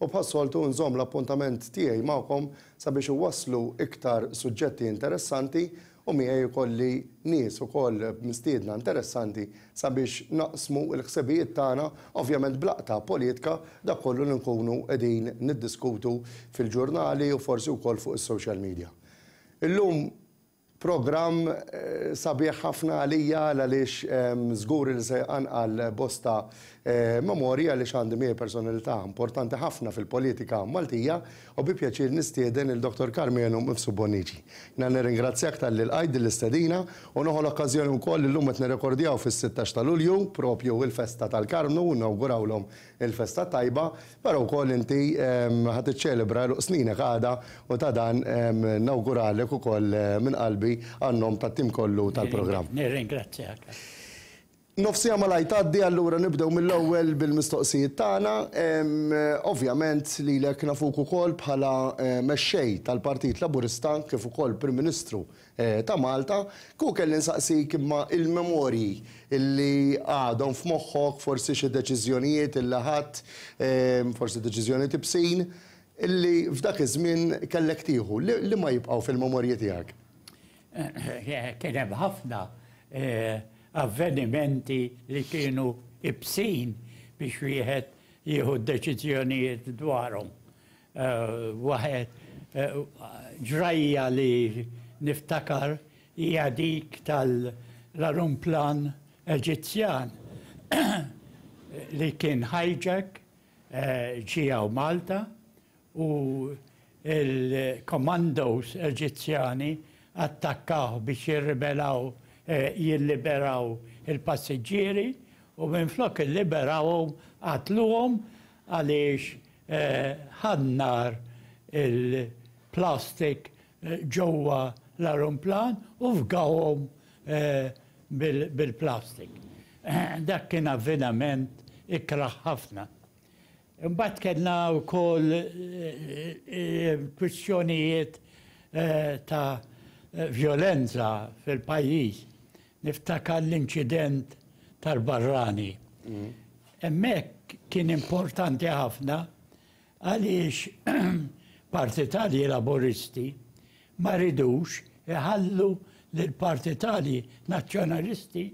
U bħas-soltu nżomm l-appuntament tiegħi magħkom sabiex iwasslu iktar suġġetti interessanti u miegħi jkolli nies ukoll mistiedna interessanti sabiex naqsmu l-ħsebijiet tagħna, ovvjament b'laqta politka, dak kollu li nkunu qegħdin niddiskutu fil-ġurnali u forsi wkoll fuq is-social media. Illum Programm sabiħ ħafna għalija għaliex żgur li se jqanqal bosta memorji għaliex għandi miegħi personalità importanti ħafna fil-politika Maltija u bi pjaċir nistieden lil Dottor Karmenu Mifsud Bonnici. Jiena nirringrazzjak talli lqajt din l-istedina u nieħu l-okkażjoni wkoll li llum qed nirrekordjaw fis-sittax ta' Lulju propju l-festa tal-Karmnu u nawgurawlhom Il-festa tajba, pero wkoll inti ħa tiċċelebra għeluq sninek għada u ta' dan nawguralek ukoll minn qalbi għan-nom tat-tim kollu tal-programm. Nirringrazzjak. Nofsija malajr tgħaddi allura nibdew mill-ewwel bil-mistoqsijiet tagħna. Ovvjament lilek nafuk ukoll bħala mexxej tal-Partit Laburista kif ukoll Prim Ministru ta' Malta. Kieku kelli nsaqsik imma il-memorji li għadhom f'moħħok, forsi xi deċiżjonijiet li ħadt, forsi deċiżjonijiet ibsin, li f'dak iż-żmien kellek tieħu, liema jibqgħu fil-memorji tiegħek? Kien hemm ħafna avvenimenti li kienu ibsin biex wieħed jieħu d-deċiżjonijiet dwarhom. Waħed ġrajja li niftakar hija dik tal-arumplan Eġizzjan li kien hijack ġie hawn Malta u l-commandos Eġizzjani attakkawh biex jirribelaw jilliberaw il-passiġġieri u minflok illiberaw qatluhom Għaliex ħa n-nar il-plastik ġewwa l-arumplan u fgahom bil-plastik. Dak kien avveniment ikrah ħafna. Imbagħad kellna wkoll kwistjonijiet ta' vjolenza fil-pajjiż. Niftakar l-inċident tal-barrani. Hemmhekk kien importanti ħafna għaliex partitalji Laburisti ma ridux iħallu lill-partitalji Nazzjonalisti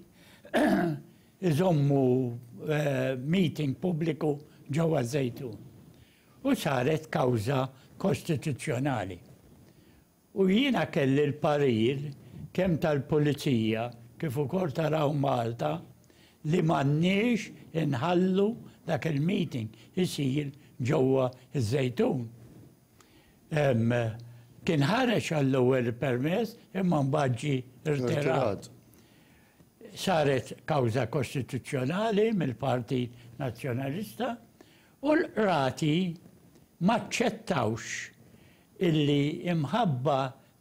jżommu meeting pubbliku ġewwa ż-Żejtun. U saret kawża kostituzzjonali. U jiena kelli l-parir kemm tal-Pulizija kif ukoll ta' Raw Malta li m'għandniex inħallu dak il-meeting isir ġewwa ż-Żejtun. Hemm kien ħareġ għall-ewwel il-permess imma mbagħad ġie rtirat. Saret kawża kostituzzjonali mill-Partit Nazzjonalista u l-qrati m'aċċettawx illi imħabba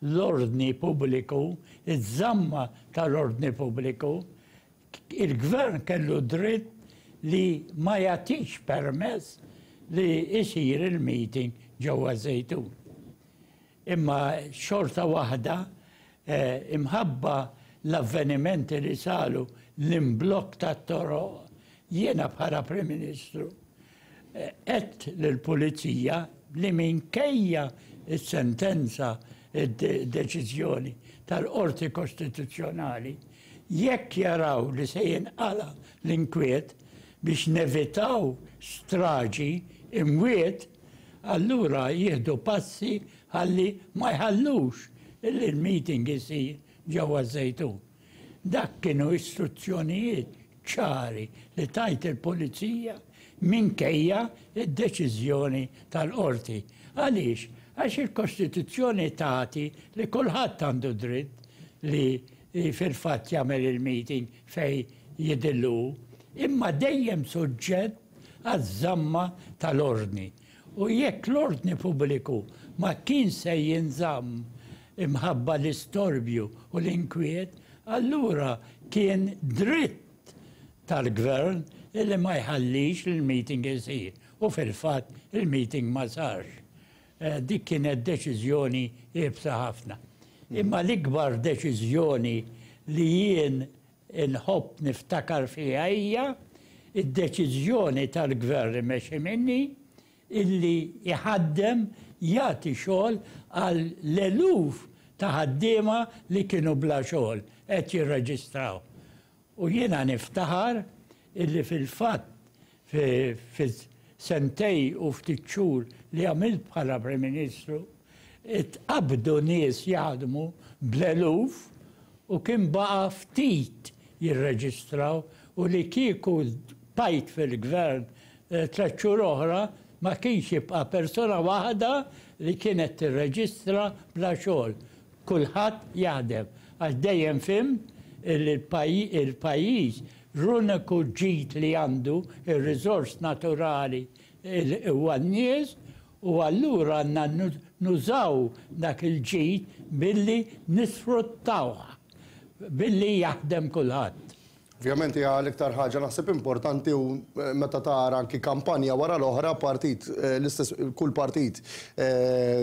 l-ordni pubbliku, iż-żamma tal-ordni pubbliku, il-Gvern kellu dritt li ma jagħtix permess li jsir il-meeting ġewwa ż-Żejtun. Imma xorta waħda, imħabba l-avvenimenti li saru, l-imblokk tat-toroq, jiena bħala Prim Ministru Għedt lill-Pulizija li minkejja s-sentenza, id-deċiżjoni, tal-Qorti Kostituzzjonali, jekk jaraw li se jinqala' l-inkwiet biex nevitaw straġi, imwiet, allura jieħdu passi ħalli ma jħallux li l-meeting isir ġewwa ż-Żejtun. Dak kienu istruzzjonijiet ċari li tajt il-Pulizija minkejja d-deċiżjoni tal-Qorti. Għaliex? Għax il-Kostituzzjoni tagħti li kulħadd għandu d-dritt li fil-fatt jagħmel il-meeting fejn jidhirlu hu, imma dejjem suġġett għaż-żamma tal-ordni. u jekk l-ordni pubbliku ma kienx se jinżamm imħabba l-istorbju u l-inkwiet, allura kien dritt tal-Gvern li ma jħallix li l-meeting isir, u fil-fatt il-meeting ma sarx. Dik kienet deċiżjoni iebsa ħafna. Imma l-ikbar deċiżjoni li jien Inħobb niftakar fiha hija d-deċiżjoni tal-Gvern imexxi minni illi jħaddem, jagħti xogħol għal l-eluf ta' ħaddiema li kienu bla xogħol qed jirreġistraw. U jiena niftaħar illi fil-fatt Fis-sentej u ftit xhur li għamilt bħala Prim Ministru, tqabbdu nies jaħdmu bl-eluf u kien baqa' ftit jirreġistraw u li kieku bqajt fil-Gvern tliet xhur oħra ma kienx jibqa' persuna waħda li kienet tirreġistra bla xogħol. Kulħadd jaħdem għax dejjem fhimt li l-pajjiż L-uniku ġid li għandu r-riżors naturali huwa n-nies u allura għandna nużaw dak il-ġid billi nisfruttawh, billi jaħdem kulħadd. Ovvjament hija l-iktar ħaġa naħseb importanti u meta tara anki kampanja wara l-oħra, partit, l-istess, kull partit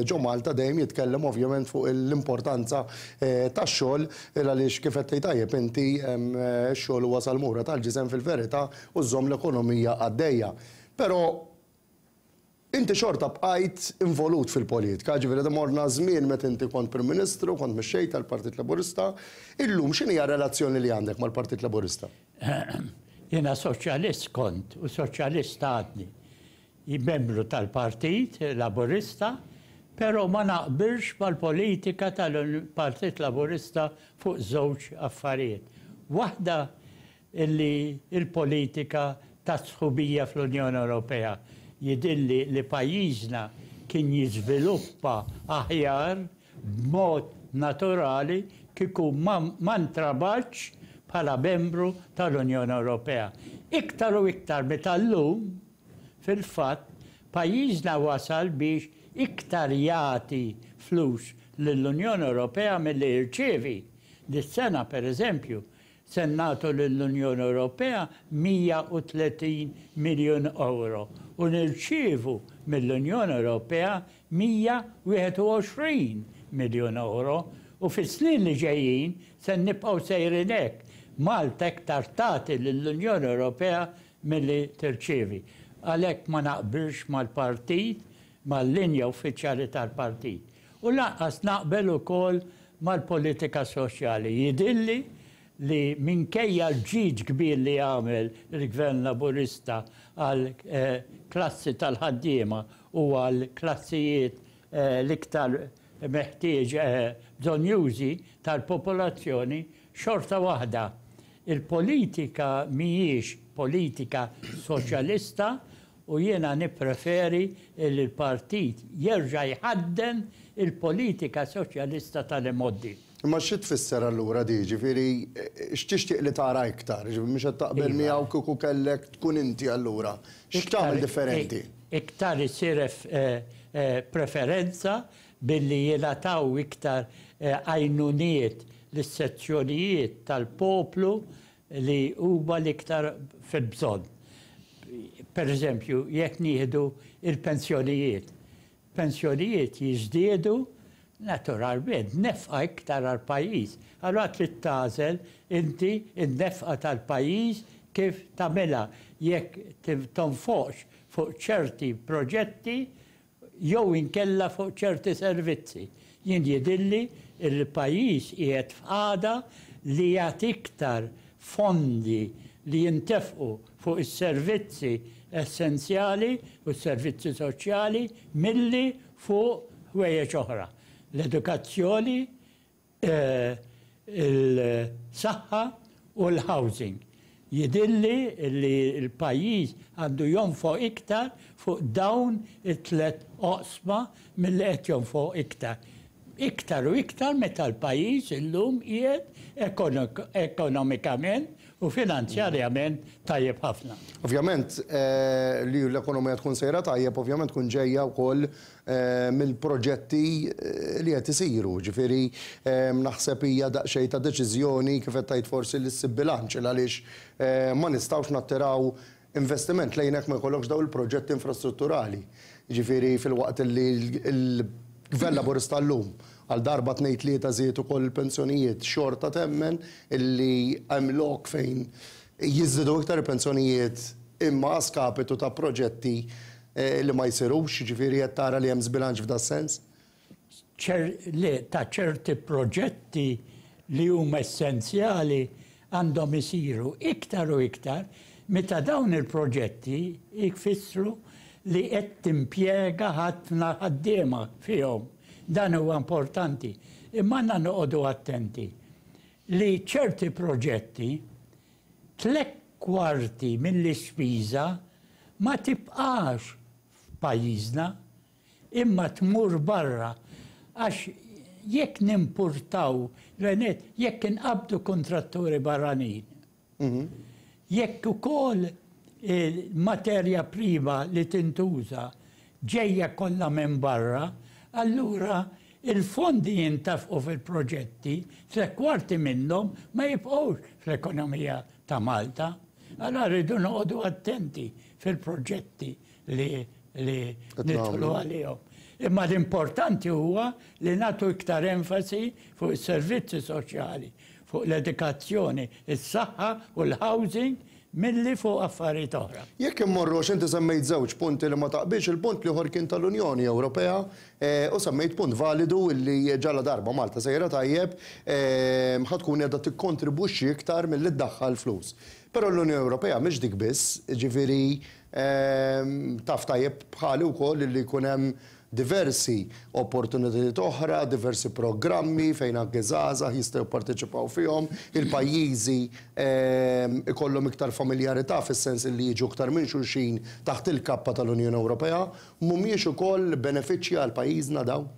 ġo Malta dejjem jitkellem ovvjament fuq l-importanza tax-xogħol. Illa għaliex, kif qed tgħid tajjeb inti, ix-xogħol huwa salmura tal-ġisem fil-verità u żżomm l-ekonomija għaddejja. Però inti xorta bqajt involut fil-politika, jiġifieri qed imorna żmien meta inti kont Prim Ministru, kont mexxej tal-Partit Laburista. Illum x'inhi r-relazzjoni li għandek mal-Partit Laburista? Jiena Soċjalist kont u Soċjalist għadni. Hi membru tal-Partit Laburista, pero ma naqbilx mal-politika tal-Partit Laburista fuq żewġ affarijiet. Waħda li l-politika tas-sħubija fl-Unjoni Ewropea jidhirli li pajjiżna kien jiżviluppa aħjar b'mod naturali kieku ma ntrabatx bħala membru tal-Unjoni Ewropea. Iktar u iktar meta llum Fil-fatt, pajjiżna wasal biex iktar jagħti flus lill-Unjoni Ewropea milli jirċievi. Dis-sena, pereżempju, se nagħtu lill-Unjoni Ewropea 130 miljun ewro u nirċievu mill-Unjoni Ewropea 121 miljun ewro u fis-snin li ġejjin se nibqgħu sejrin hekk. Malta iktar tagħti lill-Unjoni Ewropea milli tirċievi. Għalhekk ma naqbilx mal-partit, mal-linja uffiċjali tal-partit. U lanqas naqbel ukoll mal-politika soċjali. Jidhirli li minkejja l-ġid kbir li għamel il-Gvern Laburista għall-klassi tal-ħaddiema u għall-klassijiet l-iktar meħtieġa, bżonnjużi tal-popolazzjoni, Xorta waħda, il-politika mhijiex politika soċjalista u jiena nippreferi li l-Partit jerġa' jħadden il-politika soċjalista tal-imgħoddi. Imma xi tfisser allura di? Jiġifieri, x'tixtieq li tara iktar? Jiġifieri mhux qed taqbel miegħu kieku kellek tkun inti allura. X'tagħmel differenti? Iktar issir preferenza billi jingħataw iktar għajnuniet lis-sezzjonijiet tal-poplu li huma l-iktar fil-bżonn. Per eżempju, jekk nieħdu l-pensjonijiet, pensjonijiet jiżdiedu, naturalment nefqa iktar għall-pajjiż. Allura trid tagħżel inti n-nefqa tal-pajjiż kif tagħmilha, jekk tonfoqx fuq ċerti proġetti jew inkella fuq ċerti servizzi. Jien jidhirli li l-pajjiż qiegħed f'qagħda li jagħti iktar fondi li jintefqu fuq is-servizzi essenzjali u s-servizzi soċjali milli fuq ħwejjeġ oħra. L-edukazzjoni il-saħħa u l-housing. Jidhirli li l-pajjiż għandu jonfoq iktar fuq dawn it-tliet oqsma milli qed jonfoq iktar. Iktar u iktar meta l-pajjiż illum qiegħed ekonomikament u finanzjarjament tajjeb ħafna. Ovvjament, li l-ekonomija tkun sejra tajjeb ovvjament tkun ġejja wkoll mill-proġetti li qed isiru. Ġifieri naħseb hija daqsxejn ta' deċiżjoni kif qed tgħid forsi li ssib bilanċ il għaliex ma nistgħux nattiraw investiment lejn hekk ma jkollokx dawn il-proġetti infrastrutturali. Jiġifieri filwaqt li l-Gvern Laburista llum għal darba tnejn tlieta żied ukoll il-pensjonijiet xorta temmen illi hemm lok fejn jiżdiedu iktar il-pensjonijiet imma a skapitu ta' proġetti li ma jsirux, jiġifieri qed tara li hemm żbilanċ f'das-sens? Ċer, le, ta' ċerti proġetti li huma essenzjali għandhom isiru iktar u iktar meta dawn il-proġetti jfissru li qed timpjega ħafna ħaddiema fihom. Dan huwa importanti. Imma għandna noqogħdu attenti li ċerti proġetti Tliet kwarti mill-ispiża ma tibqax f'pajjiżna imma tmur barra għax jekk nimpurtaw, l-ewwel nett jekk inqabdu kuntratturi barranin, jekk ukoll il-materja prima li tintuża ġejja kollha minn barra, allura Il-fondi jintefqu fil-proġetti, trekwarti minnhom ma jibqgħux fl-ekonomija ta' Malta. Allura rridu noqogħdu attenti fil-proġetti li nidħlu għalihom. Imma l-importanti huwa li nagħtu iktar enfasi fuq is-servizzi soċjali, fuq l-edukazzjoni, is-saħħa u l-housing Milli fuq affarijiet oħra. Jekk immorru, għax inti semmejt żewġ punti li ma taqbilx, il-punt l-ieħor kien tal-Unjoni Ewropea u semmejt punt validu li ġaladarba Malta sejra tajjeb ħa tkun qiegħda tikkontribwixxi iktar milli ddaħħal flus. Però l-Unjoni Ewropea mhix dik biss, jiġifieri Taf tajjeb bħali wkoll li jkun hemm diversi opportunitajiet oħra, diversi programmi fejn anke żgħażagħ jistgħu jipparteċipaw fihom, il-pajjiżi jkollhom iktar familjarità fis-sens li jiġu iktar minn xulxin taħt il-kappa tal-Unjoni Ewropea. Mhumiex ukoll benefiċċji għal pajjiżna dawn?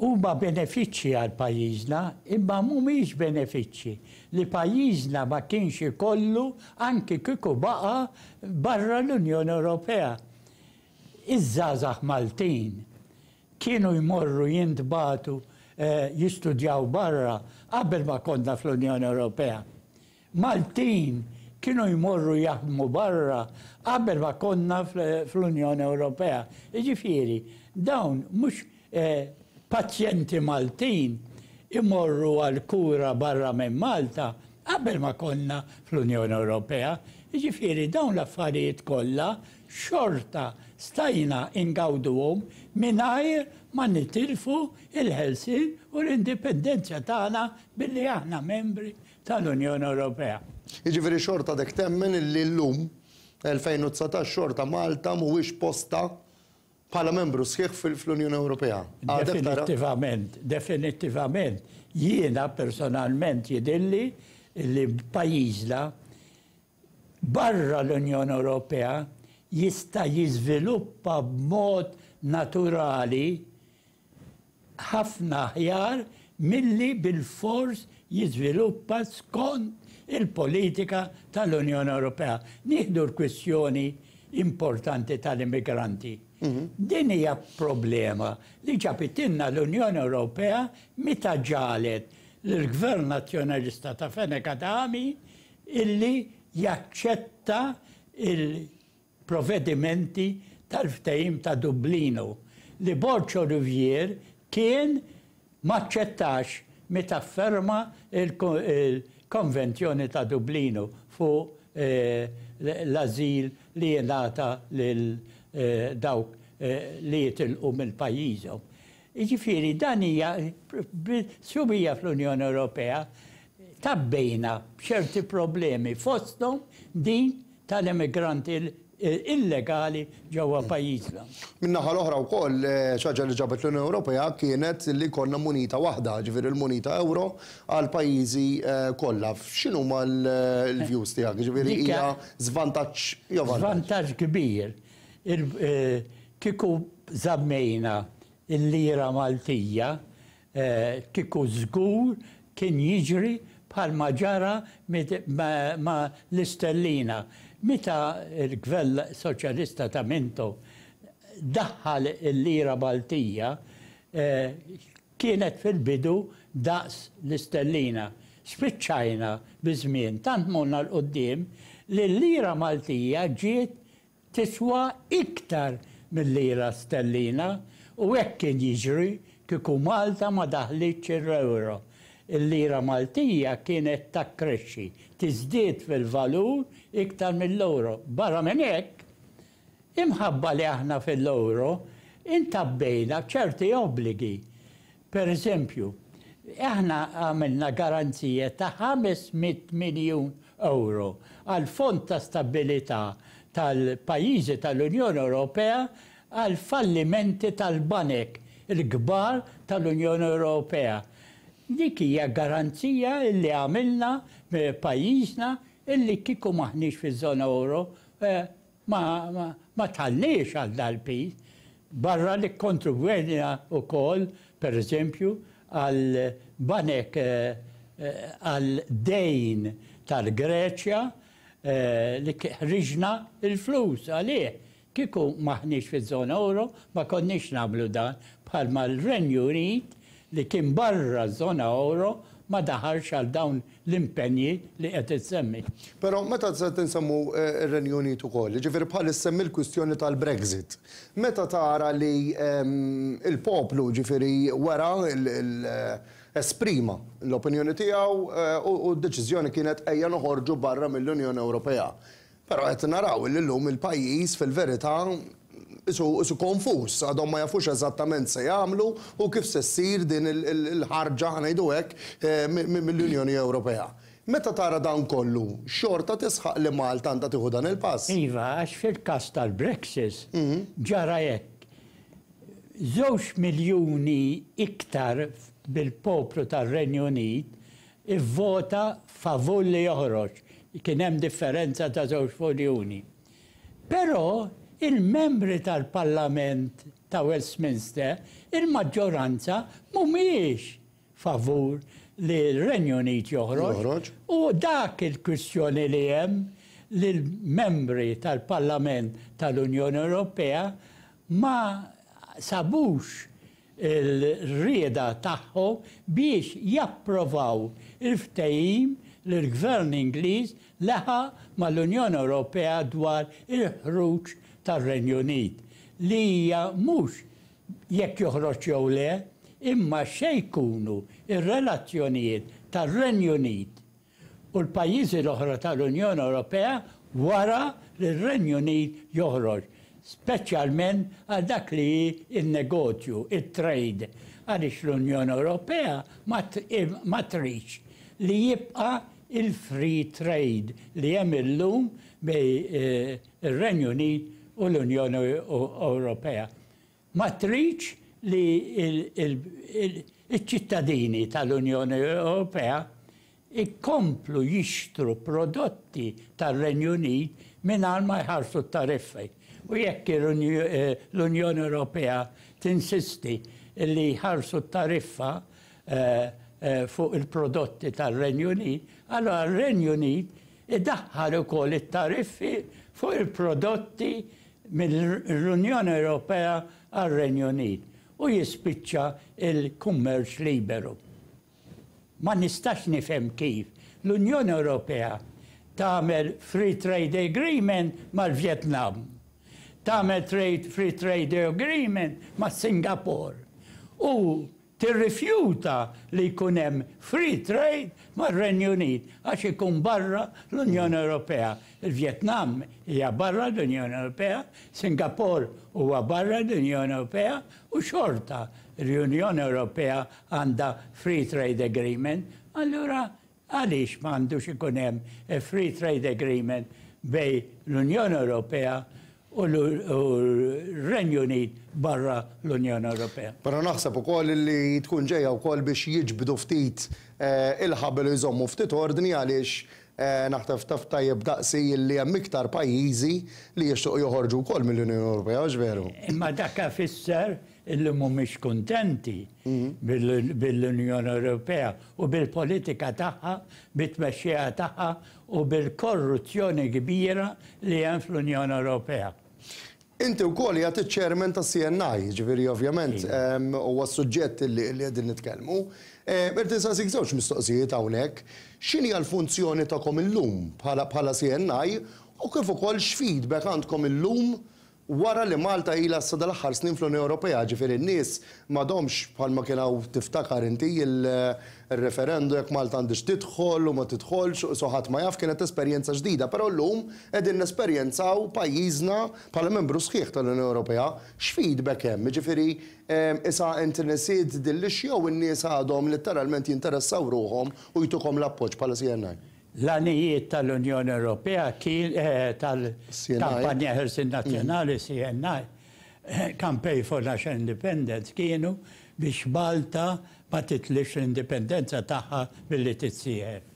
Huma benefiċċji għal pajjiżna imma mhumiex benefiċċji li pajjiżna ma kienx ikollu anki kieku baqa' barra l-Unjoni Ewropea. Iż-żgħażagħ Maltin kienu jmorru jintbagħtu jistudjaw barra qabel ma konna fl-Unjoni Ewropea. Maltin kienu jmorru jaħdmu barra qabel ma konna fl-Unjoni Ewropea. Jiġifieri, dawn mhux pazjenti Maltin imorru għal kura barra minn Malta qabel ma konna fl-Unjoni Ewropea. Jiġifieri, dawn l-affarijiet kollha xorta stajna ngawduhom mingħajr ma nitilfu l-ħelsien u l-indipendenzja tagħna billi aħna membri tal-Unjoni Ewropea. Jiġifieri xorta għadek temmen li llum, 2019, xorta Malta mhuwiex postha bħala membru sħiħ fl-Unjoni Ewropea? Għadek tara? Definittivament, definittivament. Jiena personalment jidhirli li pajjiżna, barra l-Unjoni Ewropea jista' jiżviluppa b'mod naturali ħafna aħjar milli bilfors jiżviluppa skont il-politika tal-Unjoni Ewropea. Nieħdu l-kwistjoni importanti tal-immigranti. Din hija problema li ġabitilna l-Unjoni Ewropea meta ġagħlet lill-Gvern Nazzjonalista ta' Fenech Adami illi jaċċetta l-provedimenti tal-Ftehim ta' Dublinu, li Borcho Riviere kien m'aċċettax meta fferma l-Konvenzjoni ta' Dublinu fuq l-ażil li jingħata lil dawk li jitilqu minn pajjiżhom. Jiġifieri dan hija, sub hija fl-Unjoni Ewropea, tgħabbejna b'ċerti problemi fosthom din tal-immigranti illegali ġewwa pajjiżna. Min-naħa l-oħra wkoll, xi ħaġa li ġabet l-Unjoni Ewropea kienet li jkollna munita waħda, jiġifieri l-munita ewro għall-pajjiżi kollha. X'inhuma l-views tiegħek? Jiġifieri hija żvantaġġ jew vantaġġ? Żvantaġġ kbir. Kieku żammejna l-lira Maltija, Kieku żgur kien jiġri bħalma ġara ma' l-Istellina, meta l-Gvern Soċjalista ta' Minto daħħal il-lira Maltija, kienet fil-bidu daqs l-Istellina. Spiċċajna biż-żmien tant morna 'l quddiem li l-lira Maltija ġiet tiswa iktar mil-lira sterlina u hekk kien jiġri kieku Malta ma daħlitx ir-Euro. Il-lira Maltija kienet takkrexxi, tiżdied fil-valur iktar mill-Euro. Barra minn hekk, imħabba li aħna fil-Euro, intabbejna ċerti obbligi Pereżempju, aħna għamilna garanzija ta' ħames mitt miljun ewro għall-Fond ta' Stabbilità tal-pajjiżi tal-Unjoni Ewropea għall-fallimenti tal-banek il-kbar tal-Unjoni Ewropea. Dik hija garanzija li għamilna pajjiżna li kieku m'aħniex fiż-żona ewro, ma tħallihiex għal dan il-piż, barra li kkontribwejna wkoll, per eżempju, għall-banek għad-dejn tal-Greċja li ħriġna l-flus għalih. Kieku m'aħniex fiż-żona euro ma konniex nagħmlu dan, bħalma r-Renju Unit li kien barra ż-żona euro ma daħalx għal dawn l-impenji li qed issemmi. Però meta se insemmu r-Renju Unit ukoll, jiġifieri bħal issemmi l-kwistjoni tal-Brexit, meta tara li l-poplu jiġifieri wera l esprima l-opinjoni tiegħu u d-deċiżjoni kienet ejja noħorġu barra mill-Unjoni Ewropea, Però qed naraw illi llum il-pajjiż fil-verità qisu qisu konfuż, għadhom ma jafux eżattament se jagħmlu u kif se ssir din il-ħarġa, ħa ngħidu hekk, mill-Unjoni Ewropea. Meta tara dan kollu, xorta tisħaq li Malta għandha tieħu dan il-pass? Iva, għax fil-każ tal-Brexit ġara hekk. Żewġ miljuni iktar bil-poplu tar-Renju Unit ivvota favur li joħroġ, kien hemm differenza ta' żewġ voljuni. Però il-membri tal-Parlament ta' Westminster, il-maġġoranza mhumiex favur li r-Renju Unit joħroġ u dak il-kwistjoni li hemm li l-membri tal-Parlament tal-Unjoni Ewropea ma sabux il-rieda tagħhom biex japprovaw il-ftehim li l-Gvern Ingliż leħaq mal-Unjoni Ewropea dwar il-ħruġ tar-Renju Unit, li hija mhux jekk joħroġ jew le, imma x'se jkunu r-relazzjonijiet tar-Renju Unit u l-pajjiżi l-oħra tal-Unjoni Ewropea wara li r-Renju Unit joħroġ, speċjalment għal dak li hi n-negozju, it-trade, għaliex l-Unjoni Ewropea ma tridx li jibqa' il-free trade li hemm illum bejn ir-Renju Unit u l-Unjoni Ewropea. Ma tridx li ċ-ċittadini tal-Unjoni Ewropea jkomplu jixtru prodotti tar-Renju Unit mingħajr ma jħallsu t-tariffi u jekk l-Unjoni Ewropea tinsisti li jħallsu t-tariffa fuq il-prodotti tar-Renju Unit, allura r-Renju Unit Idaħħal ukoll it-tariffi fuq il-prodotti mill-Unjoni Ewropea għar-Renju Unit u jispiċċa l-kummerċ liberu. Ma nistax nifhem kif l-Unjoni Ewropea tagħmel free trade agreement mal-Vjetnam, tagħmel free trade agreement ma' Singapore u tirrifjuta li jkun hemm free trade mar-Renju Unit għax ikun barra l-Unjoni Ewropea. Il-Vjetnam hija barra l-Unjoni Ewropea, Singapore huwa barra l-Unjoni Ewropea u xorta l-Unjoni Ewropea għandha free trade agreement. Allura Għaliex ma għandux ikun hemm free trade agreement bejn l-Unjoni Ewropea u r-Renju Unit barra l-Unjoni Ewropea? Però naħseb ukoll li tkun ġejja wkoll biex jiġbdu ftit il-ħabel u jżommu ftit ordni għaliex naħseb taf tajjeb daqsi li hemm iktar pajjiżi li jixtiequ joħorġu wkoll mill-Unjoni Ewropea, mhux veru? Imma dak ifisser illi mhumiex kuntenti bil-Unjoni Ewropea u bil-politika tagħha, bit-tmexxija tagħha u bil-korruzzjoni kbira li hemm fl-Unjoni Ewropea. Inti wkoll qiegħed iċ-Chairman tas-CNI, jiġifieri ovvjament huwa s-suġġett li qegħdin nitkellmu. Irrid insaqsik żewġ mistoqsijiet hawnhekk, x'inhi l-funzjoni tagħkom illum bħala CNI u kif ukoll x'feedback għandkom illum Wara li Malta ilha issa dal-aħħar snin fl-Unjoni Ewropea, ġifieri n-nies m'għadhomx bħalma kien hawn tiftakar inti r-referendu jekk Malta għandhiex tidħol u ma tidħolx u so ħadd ma jaf kienet esperjenza ġdida però llum qegħdin nesperjenzaw pajjiżna bħala membru sħiħ tal-Unjoni Ewropea x'feedback hemm? Jiġifieri issa intrnesiet din l-issue jew in-nies għadhom litteralment jinteressaw ruħhom u jtukom l-appoġġ bħala CNI? L-għanijiet tal-Unjoni Ewropea kien tal-Kampanja Ħelsien Nazzjonali, CNI, Campaign for National Independence, kienu biex Malta ma titlifx l-indipendenza tagħha billi tissieħeb.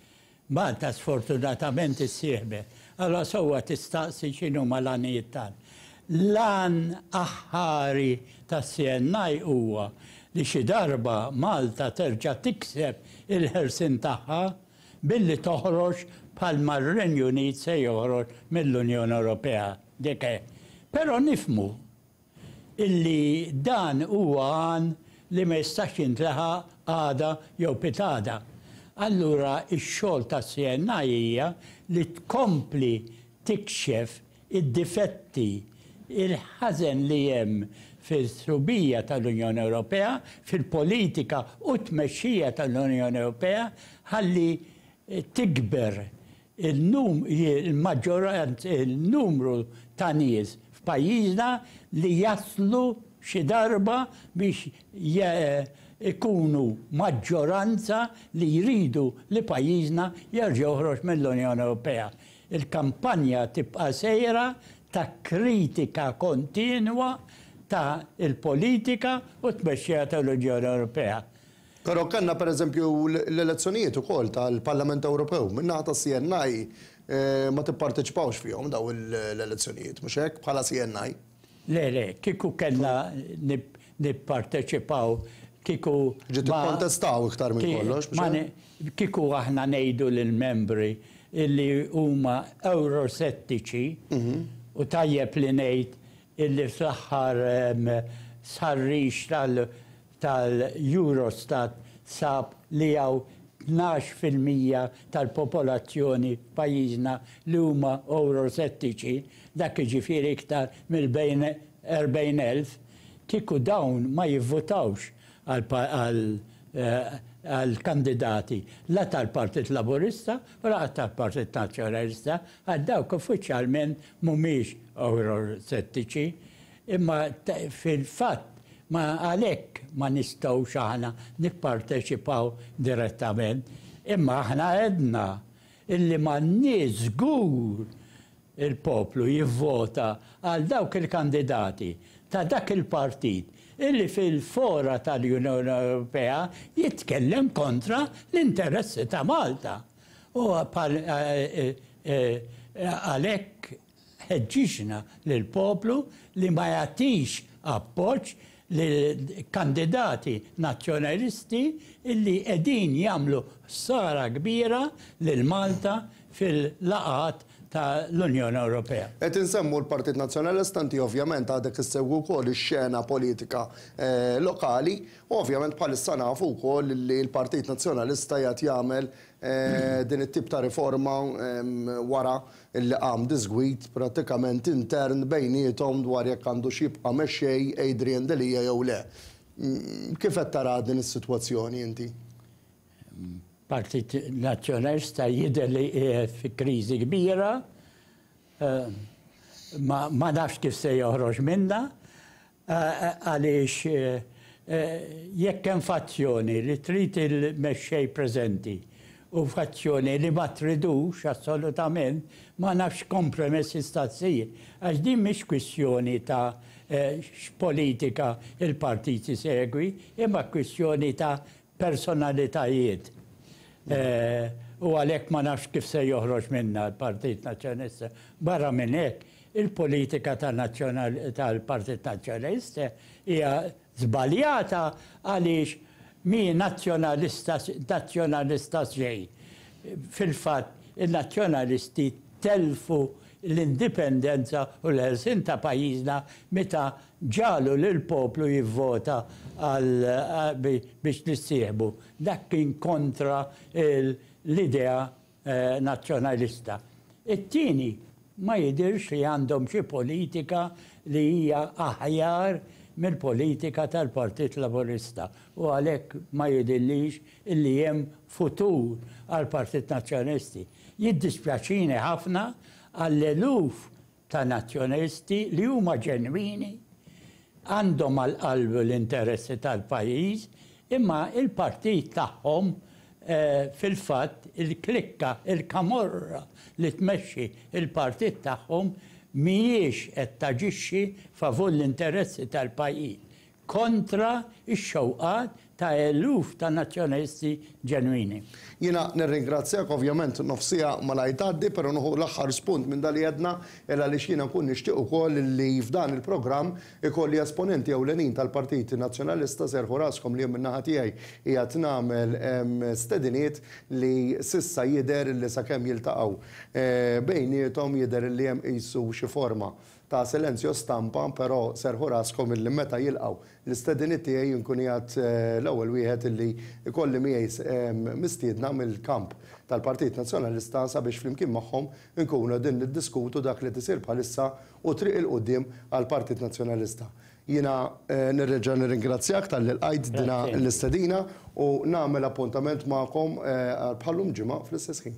Malta sfortunatament issieħbet. Allura sewwa tistaqsi x'inhuma l-għanijiet tagħna. L-għan aħħari tas-CNI huwa li xi darba Malta terġa' tikseb il-ħelsien tagħha Billi toħroġ bħalma r-Renju Unit se joħroġ mill-Unjoni Ewropea, deke. Però nifhmu illi dan huwa għan li ma jistax jintlaħaq għada jew pitgħada. Allura x-xogħol tas-CNI hija li tkompli tikxef id-difetti, il-ħażen li hemm fis-sħubija tal-Unjoni Ewropea, fil-politika u t-tmexxija tal-Unjoni Ewropea ħalli tikber il-numru ta' nies f'pajjiżna li jaslu xi darba biex ikunu maġġoranza li jridu li pajjiżna jerġa' joħroġ mill-Unjoni Ewropea. Il-kampanja tibqa' sejra ta' kritika kontinwa ta' l-politika u t-tmexxija ta' l-Unjoni Ewropea. Però kellna per eżempju l-elezzjonijiet ukoll tal-Parlament Ewropew. Min-naħa tas-CNI ma tipparteċipawx fihom dawn l-elezzjonijiet, mhux hekk, bħala CNI? Le, le, kieku kellna nipparteċipaw, kieku ma. Ġiet tikkontestaw iktar minn kollox, mhux hekk? Kieku aħna ngħidu lill-membri illi huma ewroxettiċi, u tajjeb li ngħid illi fl-aħħar sħarrix tal. tal-Eurostat sab li hawn tnax fil-mija tal-popolazzjoni f'pajjiżna li huma Ewroxettiċi, dak jiġifieri iktar mill-bejn 40 elf, kieku dawn ma jivvutawx għall-kandidati la tal-Partit Laburista u lanqas tal-Partit Nazzjonalista għax dawk uffiċjalment mhumiex Ewroxettiċi. Imma fil-fatt ma għalhekk ma nistgħux aħna nipparteċipaw direttament. Imma aħna għedna illi m'għandniex żgur il-poplu jivvota għal dawk il-kandidati ta' dak il-partit illi fil-fora tal-Unjoni Ewropea jitkellem kontra l-interessi ta' Malta. U għalhekk Ħeġġiġna lill-poplu li ma jagħtix appoġġ lil kandidati Nazzjonalisti li qegħdin jagħmlu ħsara kbira lil Malta fil-laqgħat ta' l-Unjoni Ewropea. Qed insemmu l-Partit Nazzjonalista, inti ovvjament għadek issegwi wkoll ix-xena politika lokali u ovvjament bħalissa nafu wkoll li l-Partit Nazzjonalista qiegħed jagħmel Din it-tip ta' riforma wara li qam diżgwid prattikament intern bejniethom dwar jekk għandux jibqa' mexxej Adrian Delia jew le. Kif qed taraha din is-sitwazzjoni inti? Partit Nazzjonalista jidher li qiegħed fi kriżi kbira. Ma nafx kif se joħroġ minnha. Għaliex, jekk hemm fazzjoni li trid il-mexxej preżenti u fazzjoni li ma tridux assolutament, ma nafx x'kompromess jista' jsir. Għax din mhix kwistjoni ta' x'politika l-partit isegwi, imma kwistjoni ta' personalitajiet u għalhekk ma nafx kif se joħroġ minnha l-Partit Nazzjonalista. Barra minn hekk, il-politika tal-Partit Nazzjonalista hija żbaljata għaliex mhi nazzjonalista nazzjonalista xejn. Fil-fatt, in-Nazzjonalisti telfu l-indipendenza u l-ħelsien ta' pajjiżna meta Ġagħlu lill-poplu jivvota għal biex nissieħbu. Dak kien kontra l-idea nazzjonalista. It-tieni, ma jidhirx li għandhom xi politika li hija aħjar mill-politika tal-Partit Laburista u għalhekk ma jidhirlix li hemm futur għall-Partit Nazzjonalisti. Jiddispjaċini ħafna għall-eluf ta' Nazzjonalisti li huma ġenwini, għandhom għal qalbu l-interessi tal-pajjiż, imma l-partit tagħhom fil-fatt il-klikka, il-kamorra li tmexxi l-partit tagħhom mhijiex qed taġixxi favur l-interessi tal-pajjiż. kontra x-xewqat ta' eluf ta' Nazzjonalisti ġenwini. Jiena nirringrazzjak, ovvjament nofs siegħa malajr tgħaddi, però nieħu l-aħħar spunt minn dak li għedna, il għaliex jiena nkun nixtieq ukoll li f'dan il-programm ikolli esponenti ewlenin tal-Partit Nazzjonalista, serrħu raskom li jien min-naħa tiegħi qiegħed nagħmel stediniet li s'issa jidher li sakemm jiltaqgħu bejniethom jidher li hemm qisu xi forma ta' silenzio stampa però serrħu raskom illi meta jilqgħu l-istediniet tiegħi nkun qiegħed l-ewwel wieħed illi jkolli miegħi mistiedna mill-kamp tal-Partit Nazzjonalista sabiex flimkien magħhom inkunu qegħdin niddiskutu dak li qed isir bħalissa u t-triq 'il quddiem għall-Partit Nazzjonalista. Jiena nirreġa' nirringrazzjak talli lqajt dina l-istedina u nagħmel appuntament magħkom għal bħal-lum ġimgħa fl-istess ħin.